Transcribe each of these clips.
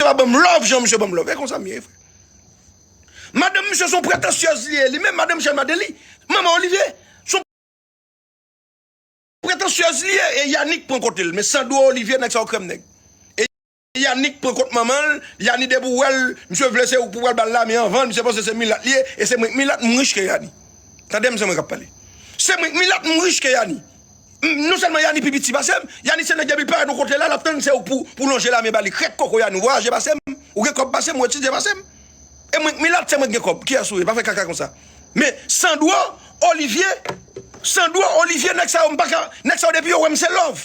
Misye pa banm love jan misye banm love e konsa m ye frè Madanm misye son pretansyèz li ye li menm madanm Michel Martelly manman Olivier son pretansyèz li ye e Yanick pran kote l men Sandro Olivier nèg sa yo krèm nèg e Yanick pran kot manman l Yani depi w wè l misye vle se ou pou pral bal la men anvan misye panse se milat li ye e se mwen k milat m rich ke Yani tande m se mwen k ap pale se mwen k milat m rich ke Yani. Non selman yani pi piti pasem, yani se nèg depi l parèt yon kote la lap tann se ou pou lonje lamen bali krèk koko yani ou vwayaje pasem, ou gen kòb pasem, ou etidye pasem e mwen k milat se mwen k gen kòb kiyès ou ye pa fè kaka konsa men sandro, olivye sandro, olivye nèg sa yo m paka nèg sa yo depi yo wèm se love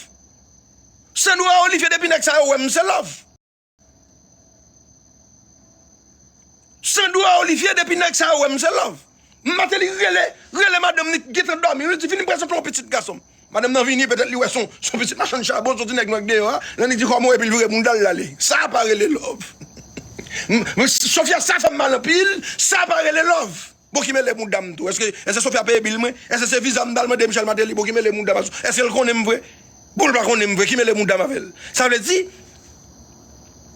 sandro a olivye depi nèg sa yo wèm se love. Sandro a Olivier depi nèg sa yo wèm se love. Mateli rele, rele madanm li gentan dòmi wi li di vini pran swen pou yon pitit gason. Madanm nan vini petèt li wè son son pitit machann chabon son ti nèg nan k deyò a, lè li di kòman w epi l vire bounda l lale. Sa pa rele love. Sofia sa fèm mal anpil, sa pa rele love. Bon ki mele mouda m tou eske eske Sophia peye bil mwen eske se viza m tal mande Michel Martelly bon ki mele mouda m ak Sophia eske l konnen m vre bon l pa konnen m vre ki mele mouda m avè l sa vle di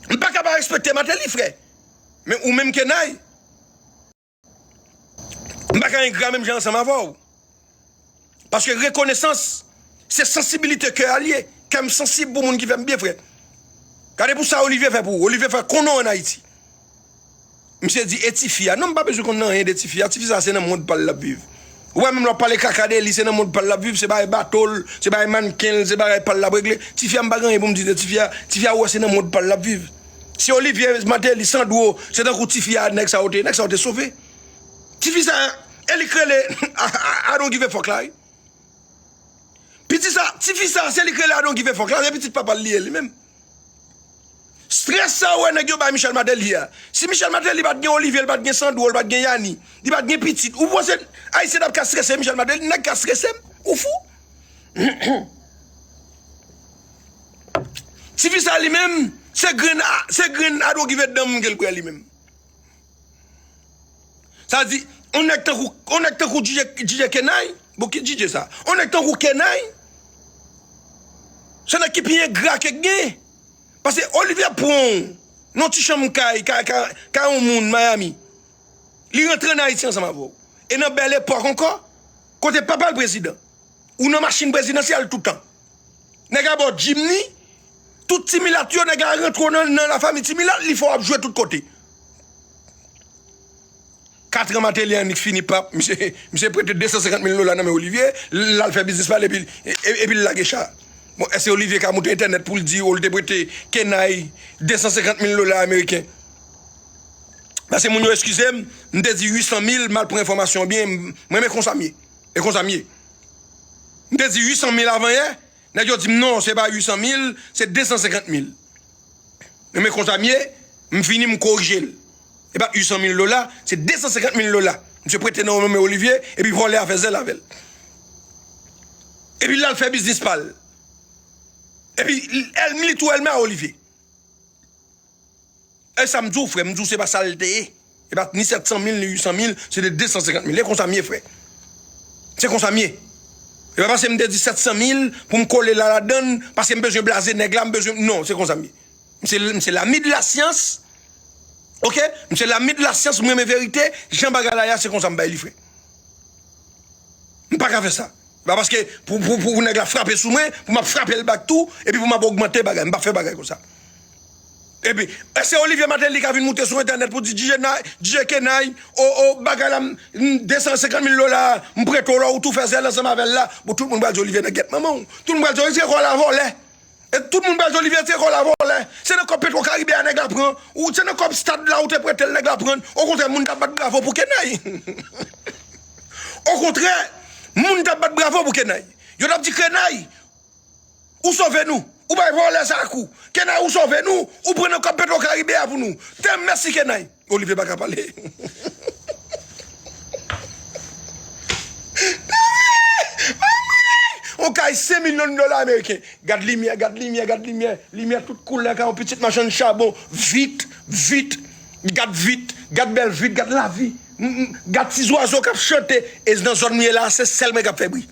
m paka pa respekte Martelly frè men ou menm Kenay m paka engra menm jan ansanm avè w. Paske rekonesans se sansibilite kè a li ye. Kè m sansib pou moun ki fè m byen frè. Gade pou sa Olivier fè pou ou. Olivier fè konnen w an Ayiti. Misye di e ti fi a. Non m pa bezwen konnen anyen de ti fi a. Ti fi sa se nan mond pa l l ap viv. Ou wè menm lè w ap pale kaka de li se nan mond pa l l ap viv. Se bagay bato l, se bagay mannken l, se bagay pa l l ap regle. Ti fi a m pa gen anyen pou m di de ti fi a. Ti fi a ou wè se nan mond pa l l ap viv. Si Olivier Martelly, Sandro se tankou ti fi a nèg sa yo te nèg sa yo te sove. Tifi sa e li k rele I don't give a fuck la wi. Piti sa, tifi sa se li k rele I don't give a fuck la, se pitit papa l li ye li menm. Stress sa ou wè nèg yo bay Michel Martelly a, si Michel Martelly pa t gen Olivier, li pa t gen Sandro, li pa t gen Yani, li pa t gen pitit, ou panse Ayisyen t ap ka strese Michel Martelly? Nèg ka strese m? Ou fou? Tifi sa li menm, se grenn I don't give a damn ke l pran li menm. Sa di, yon nèg tankou, yon nèg tankou DJ Kenay, bon ki DJ sa? Yon nèg tankou Kenay, se nèg ki pi engra ke gen. Pase Olivier pran w, nan yon ti chanm kay, kay, kay, kay yon moun Miami. Li rantre an Ayiti ansanm avè w. E nan bèl epòk ankò, kote papa l prezidan. Ou nan machin prezidansyèl toutan. Nèg a baw dim ni tout ti milat yo nèg a rantre w nan la fami ti milat li fè w ap jwe tout kote. Katran Mateli annik fini pap misye prete 250 mil dola nan men Olivye lal fè biznis pal epi l lage cha. Bon èske Olivye ka moute entènèt pou l di ou l te prete Kenay 250 mil dola ameriken. Pase moun yo eskize m m te di 800 mil mal pran enfòmasyon byen m renmen konsa m ye e konsa m ye. M te di 800 mil avan yè, nèg yo di m non se pa 800 mil, se 250 mil. Men men konsa m ye, m vini m korije l. Se pa 800 mil dola, se 250 mil dola. Misye prete nan yon nome Olivye, epi vòlè a fè zèl avè l. Epi l al fè biznis pa l. Epi, l li tou elme a Olivye. E sa m di w frè, m di w se pa sa l te ye. Se pa ni 700 mil, ni 800 mil, se te 250 mil. E konsa m ye frè. Se konsa m ye. E pa pase m te di 700 mil pou m kole la ladann, pase m bezwen blaze nèg la, m bezwen, non, se konsa m ye. M se lami de la syans, ok, m se lami de la syans, m renmen verite, jan bagay la ye a, se konsa m bay li frè. M pa ka fè sa. Se pa paske pou nèg la frape sou mwen, pou m ap frape l bak tou, epi pou m ap ogmante bagay. M pa fè bagay konsa. Epi, èske Olivier Martelly ka vin moute sou entènèt pou di DJ Kenay, o, o, bagay la, 250 mil dola a, m prete w lò ou tou fè zèl ansanm avè l la, bon, tout moun pral di Olivier nan gèt manman w. Tout moun pral di Olivier Kòl la vole. E tout moun pral di Olivier te kò la vòlè, se nan kòb petro karibe a nèg la pran, ou se nan kòb stad la ou te pretel nèg la prann, okontrè moun tap bat bravo pou kenay okontrè moun tap bat bravo pou kenay yo tap di kenay ou sove nou ou bay vòlè sa kou kenay ou sove nou ou pran nan kòb petro karibe a pou nou tèm mèsi kenay. Olivier paka pale Dame! On kay 5 million dola ameriken Gad limyè gad limyè gad limyè Limyè tout koulè kay on pitit machann chabon Vit vit Gad vit Gad bèl vit Gad lavi Gad ti zwazo kap chante E nan zòn m ye la se sèl mwen kap fè bri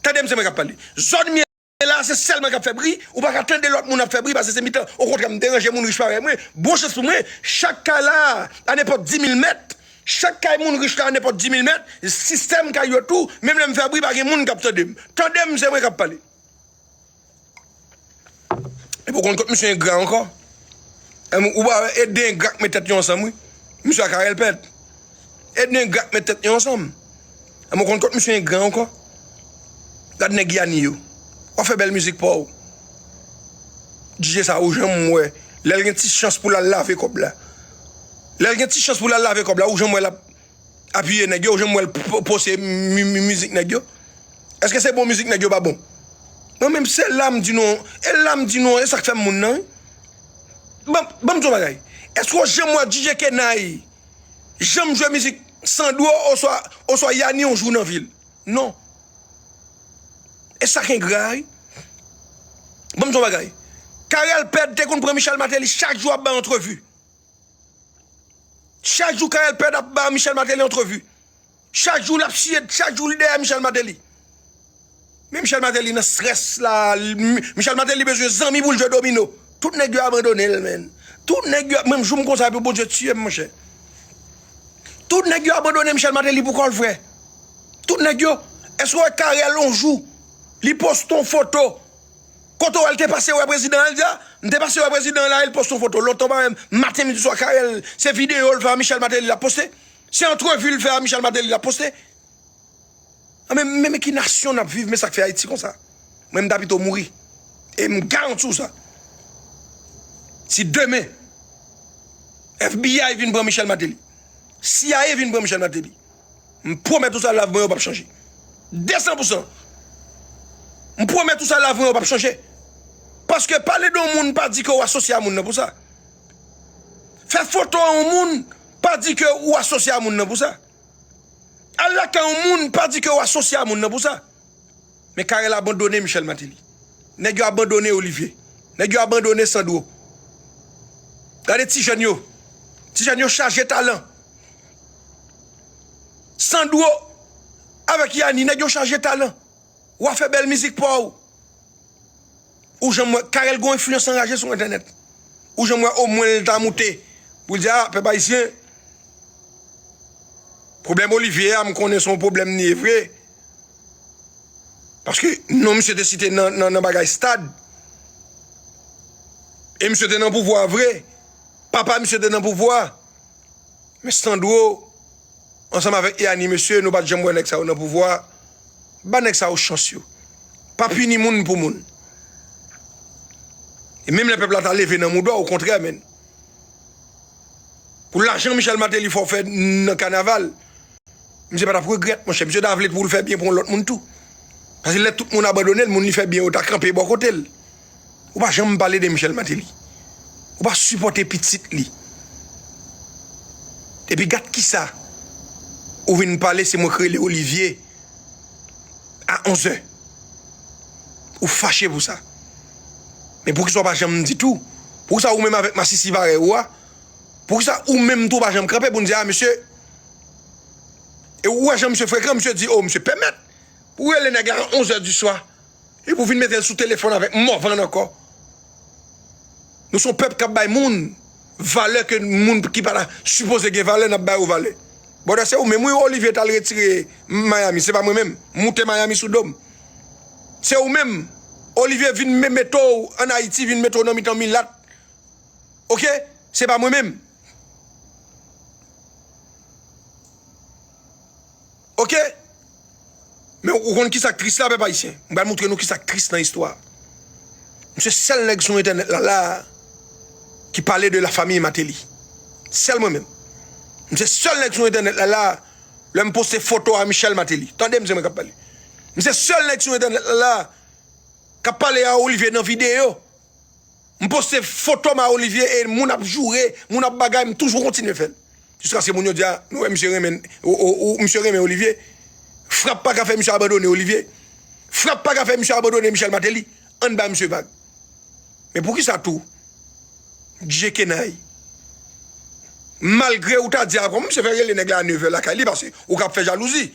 Tande m se mwen kap pale Zòn m ye E la a se sèl mwen kap fè bri, ou paka tande lòt moun ap fè bri pase se mitan, okontrè m deranje moun rich parèy mwen, bon chans pou mwen, chak kay la a a nenpòt dimil mèt, chak kay moun rich la a nenpòt dimil mèt, sistèm kay yo tou, menm lè m fè bri pa gen moun kap tande m, tande m se mwen kap pale. Epi ou konn kot misye engra ankò, ou pa wè e de engra k met tèt yo ansanm wi, misye ak Arel pèd. Edne ingrat met tèt yo ansanm. Mwen konn kot misye ingran ankò. Gad nèg Yani yo. Wap fè bèl mizik paw. DJ sa ou janm wè lèl gen ti chans poul al lave kòb la. Lèl gen ti chans poul al lave kòb la ou janm wè lap apiye nèg yo ou janm wèl pose mizik nèg yo. Eske se bon mizik nèg yo pa bon. Mwen menm se lam di nou e lam di nou e sak fèm moun nan wi. Banm banm di yon bagay eske ou janm wè DJ kenay. janm jwe mizik Sandro oswa oswa Yani yon jou nan vi l non e sa k engra a wi Ban m di w yon bagay Carel Pède te konn pran Michel Martelly chak jou ap bay antrevi chak jou Carel Pède ap ba Michel Martelly antrevi Chak jou lap chiye chak jou li dèyè Michel Martelly men Michel Martelly nan strès la Michel Martelly bezwen zanmi poul jwe domino tout nèg yo abandonel menn tout nèg yo menm joum konsa epi Bondye tiyem monchè tout nèg yo abandone Michel Martelly pou kòl frè tout nèg yo èske ou wè Carel on jou li poste on foto kote ou wèl te pase wè prezidan el di a m te pase wè prezidan la el poste on foto lontan parenn maten midi swa Carel se videyo l fè a Michel Martelly lap poste Se antrevi l fè a Michel Martelly l ap poste? Men men ki nasyon n ap viv men sa k fè Ayiti konsa. Mwen m ta pito mouri e m garanti w sa. Si demen FBI vin pran Michel Martelly, cia vin pran Michel Martelly, m pwomèt ou sa lavi mwen yo p ap chanje. Desan pou san. M pwomèt ou sa lavi mwen yo p ap chanje. Paske pale de yon moun pa di ke w asosye a moun nan pou sa. Fè foto a yon moun pa di ke ou asosye a moun nan pou sa. Al lakay yon moun pa di ke ou asosye a moun nan pou sa. Men Carel abandone Michel Martelly. Nèg yo abandone Olivier. Nèg yo abandone Sandro. Gade ti jèn yo. Ti jèn yo chaje talan. Sandro avèk Yanni nèg yo chaje talan. Ou a fè bèl mizik pa ou. ou janm wè Carel gon enfliyans anraje sou entènèt ou janm wè omwen l ta moute pou l di a pèp ayisyen pwoblèm Olivier a m konnen son pwoblèm li ye vre paske non misye te site nan bagay stad e misye te nan pouvwa vre papa misye te nan pouvwa Men Sandro ansanm avèk Yani mesye nou pat janm wè nèg sa yo nan pouvwa ba nèg sa yo chans yo pa pini moun pou moun e menm lè pèp la ta leve nan moudon okontrè menn pou lajan Michel Martelly fè w fè nan kanaval misye pa tap regrèt monchè misye ta vle pou l fè byen pou yon lòt moun tou paske lè tout moun abandone l moun li fè byen yo ta kanpe bò kote l. Ou pa janm pale de Michel Martelly. Ou pa sipòte pitit li. Epi gat kisa ou vin pale se mwen k rele Olivier a 11 zè. Ou fache pou sa. Men poukisa ou pa janm di tou. Poukisa ou menm avèk masisi parèy ou a. Poukisa ou menm tou ou pa janm kanpe pou nou di a mesye. E ou wè jan misye frekan misye di o misye pèmèt pou rele nèg la a 11 zè di swa. Epi ou vin metel sou telefòn avèk morvan ankò Nou son pèp kap bay moun valè ke moun ki pa sipoze gen valè nap bay yo valè Brother se ou menm wi Olivier tal retire Miami se pa mwen menm moute Miami sou dom Se ou menm Olivier vin me mete w an Haiti vin mete w nan mitan milat Ok se pa mwen menm. Ok! Men ou konn kisa k tris la pèp ayisyen? M pral moutre nou kisa k tris nan istwa a. M se sèl nèg sou entènèt la la a ki pale de la famille Martelly. Sèl mwen menm. M se sèl nèg sou entènèt la la a lè m poste foto a Michel Martelly. Tande m se mwen k ap pale. M se sèl nèg sou entènèt la la a k ap pale a Olivier nan videyo. M poste fotom a Olivier e moun ap joure, moun ap bagay m toujou kontinye fèl. Jiskaske moun yo di a nou wè misye renmen ou misye renmen Olivier. Frap pa ka fè misye abandone Olivier. Frap pa ka fè misye abandone Michel Martelly. Ann ba misye vag. Men poukisa tou Djekenay malgre ou ta di a kòman misye fè rele nèg la a nevè lakay li paske ou ka ap fè jalouzi.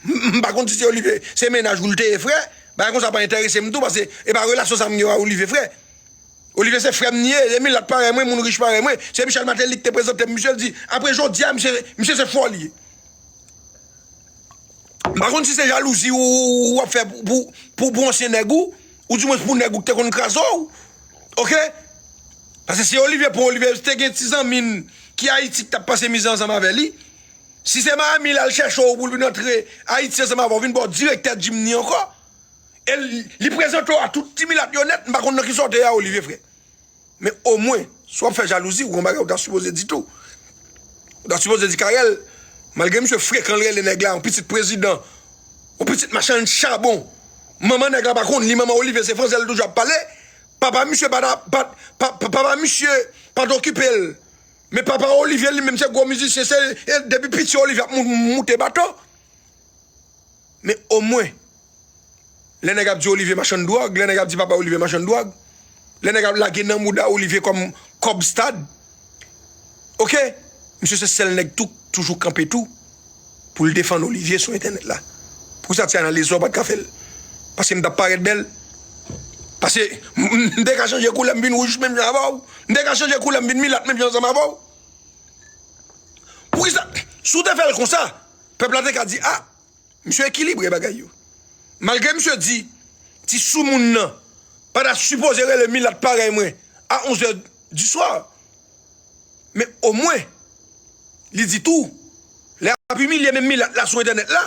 M pa konn si se Olivier se mennaj ou l te ye frè, bagay konsa pa entèrese m tou pase e pa relasyon sa m gen a Olivier frè. Olivier se frè m li ye, e milat parèy mwen, moun rich parèy mwen. Se Michel Martelly ki te prezante m misye, l di apre jodi a misye misye se fò li ye. M pa konn si se jalouzi ou ou ap fè pou pou pou ansyen nèg ou, ou di mwens pou nèg ou k te konn kraze w ok. Pase si Olivier pou Olivier te gen ti zanmi l ki Ayiti k t ap pase mizè ansanm avè li. Si se Miami lal chèche w poul vin antre Ayiti ansanm avè w vin baw direktè Jimny ankò e li prezante w a tout ti milat yo nèt m pa konn nan ki sa w te a Olivier frè men omwen si wap fè jalouzi w gon bagay ou ta sipoze di tou ou ta sipoze di Carel malgre misye frekan l rele nèg la yon pitit prezidan yon pitit machann chabon manman nèg la pa konn li manman Olivier se fransè li toujou ap pale papa misye pa ta papa misye pat okipe l. Men papa Olivier li menm se gwo mizisyen se depi piti Olivier ap moute bato men omwen lè nèg ap di Olivier machann dwòg lè nèg ap di papa Olivier machann dwòg lè nèg ap lage nan mouda Olivier kòm kòb stad ok misye se sèl nèg tou k toujou kanpe tou. poul defann Olivier sou entènèt la pousa ti analiz sa ou pat ka fèl paskem tap parèt bèl pase mte ka chanje koulèm vin wouj menm jan avèw mte ka chanje koulèm vin milat menm jan ansanm avèw poukisa sou te fèl konsa pèp la te ka di a misye ekilibre bagay yo malgre misye di ti soumoun nan pata sipoze rele milat parèy mwen a 11 è diswa. men omwen li di tou lè ap imilye menm milat la sou entènèt la,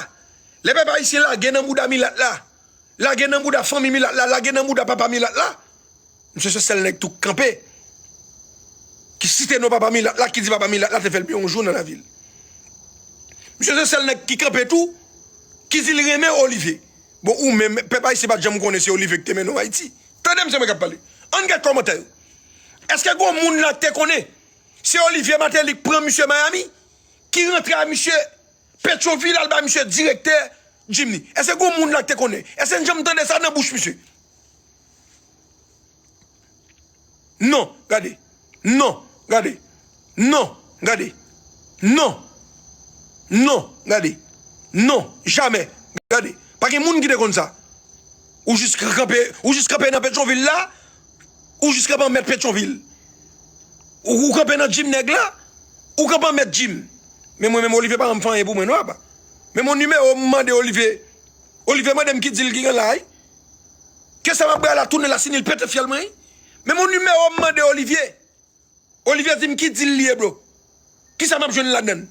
lè pèp ayisyen lage nan bouda milat la, lage nan bouda fanmi milat la, lage nan bouda papa milat la, misye se sèl nèg tou k kanpe ki site non papa milat la, ki di papa milat la te fè l byen yon jou nan lavi l. Misye se sèl nèg ki kanpe tou ki di l renmen Olive. Bon ou menm pèp ayisyen pa t janm konnen se Olive ki te mennen w Ayiti? Tande misye mwen k ap pale, ann gad kòmantè yo. Eske gon moun la k te konnen se Olivier Martelly k pran misye Miami ki rantre a misye Petyonvil al ba misye direktè Jim ni? Eske gon moun la k te konnen? Eske n janm tande sa nan bouch misye? Non, gade. Non, gade. Non, gade. Non. Non, gade. Non, jamè. Gade. Pa gen moun ki te konn sa. Ou jis kanpe, ou jis kanpe nan Petyonvil la. Ou jis kanpe an mèt Petyonvil. Ou kanpe nan gym nèg la. Ou kanpe an mèt gym. Men mwen menm Olivier pa janm fè anyen pou mwen non apa. Men mon numéro m mande Olivier. Olivier mande m ki deal ki gen la wi. Kesa m ap bay la tounen la si nil pete fyèl mwen wi. Men mon numéro m mande Olivier. Olivier dim ki deal li ye bro? Kisa map jwenn ladann?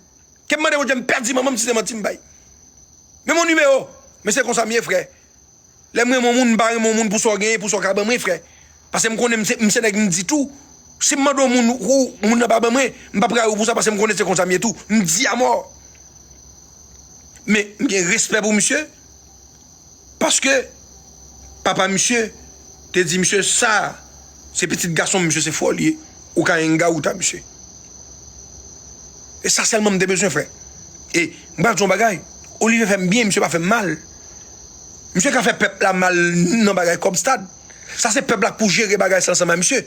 Kem mande Bondye m pèdi manmanm si se manti m bay. Men mon numéro Men se konsam ye frè Lèm renmen yon moun m pa renmen yon moun pou sa w genyen pou sa w ka ban mwen frè Pasem konnen m se nèg m di tou Sim mande yon moun ou moun nan pa ban mwen m pap rayi w pou sa pasem konnen se konsam ye tou m di amò Men m gen respè pou misye Paske papa misye te di misye sa se pitit gasonm misye se fòl ye ou ka engaouta misye. E sa sèlman m te bezwen fè. E m pral di w yon bagay, Olivier fè m byen misye pa fè m mal. Misye ka fè pèp la mal nan bagay kòb stad. Sa se pèp la k pou jere bagay sa ansanm a misye.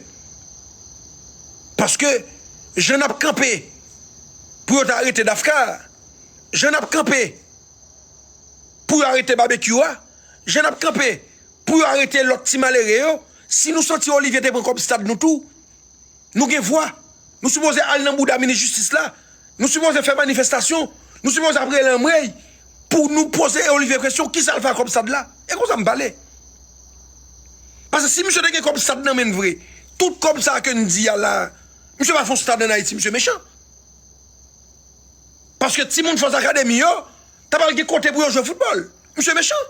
Paske jan n ap kanpe pou yo ta arete Dafka a, jan n ap kanpe. pou yo arete babekyou a jan nap kanpe pou yo arete lòt ti malere yo si nou santi olivye te pran kòb stad nou tou nou gen vwa nou sipoze al nan bouda minis jistis la nou sipoze fè manifestasyon nou sipoze ap rele anmweyy pou nou poze olivye kesyon kisal fè ak kòb stad la e konsa m pale pase si misye te gen kòb stad nan menn vre tout kòb sa ke n di a la misye pa fon stad an ayiti misye mechan. Paske timoun Force Academy yo ta pral gen kote pou yo jwe foutbòl. Misye mechan.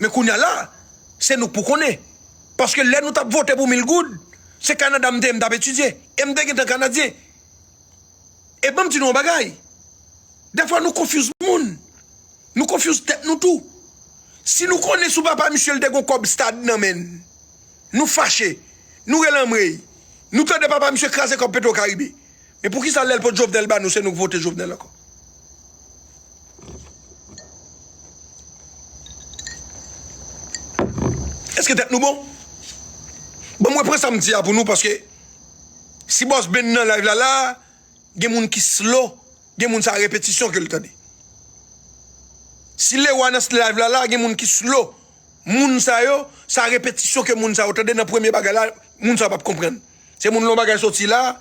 Men kounya la, se nou k pou konnen. Paske lè nou t ap vote pou mil goud, se Kanada m te ye m t ap etidye. E m te gentan Kanadyen. E ban m di nou yon bagay. Dèfwa nou konfyouz moun. Nou konfyouz tèt nou tou. Si nou konnen sou papa misye l te gon kòb stad nan men l, nou fache. Nou rele anmwey. Nou tande papa misye kraze kòb Petro Caribe. E poukisa lèl pot jovenel ba nou se nou k vote jovenel ankò. Eske tèt nou bon. Bon mwen pran sam di a pou nou paske si boss Ben nan live la la gen moun ki slow gen moun sa repetisyon ke l tande. Si Lewa nan live la la gen moun ki slow moun sa yo sa repetisyon ke moun sa yo tande nan premye bagay la moun sa yo pap konprann. Se moun lè yon bagay soti la.